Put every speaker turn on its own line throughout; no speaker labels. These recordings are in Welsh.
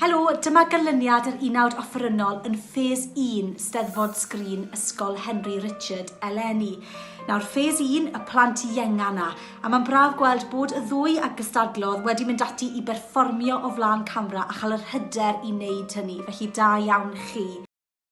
Helo, dyma ganlyniad yr unawd offerynnol yn ffes 1 Steddfod Sgrin Ysgol Henry Richard eleni. Nawr, ffes 1, y plant ienga yna, a mae'n braf gweld bod y ddwy a gystadlodd wedi mynd ati i berfformio o flaen camera a chael yr hyder i wneud hynny, felly da iawn chi.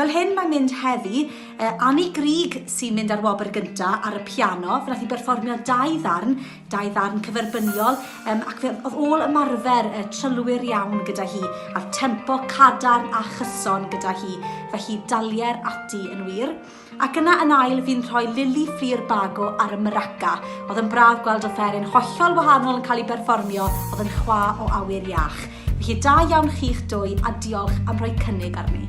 Fel hyn mae'n mynd heddi, uh, Annie Grig sy'n mynd ar wobr gynta ar y piano, fe nath i berfformio dau ddarn, dau ddarn cyferbyniol, um, ac fe oedd ôl ymarfer uh, trylwyr iawn gyda hi, a'r tempo cadarn a chyson gyda hi, felly dalier ati yn wir. Ac yna yn ail fi'n rhoi Lili Ffri'r Bago ar y maraca. Oedd yn braf gweld offeryn hollol wahanol yn cael ei berfformio, oedd yn chwa o awyr iach. Felly da iawn chi'ch dwy a diolch am rhoi cynnig arni.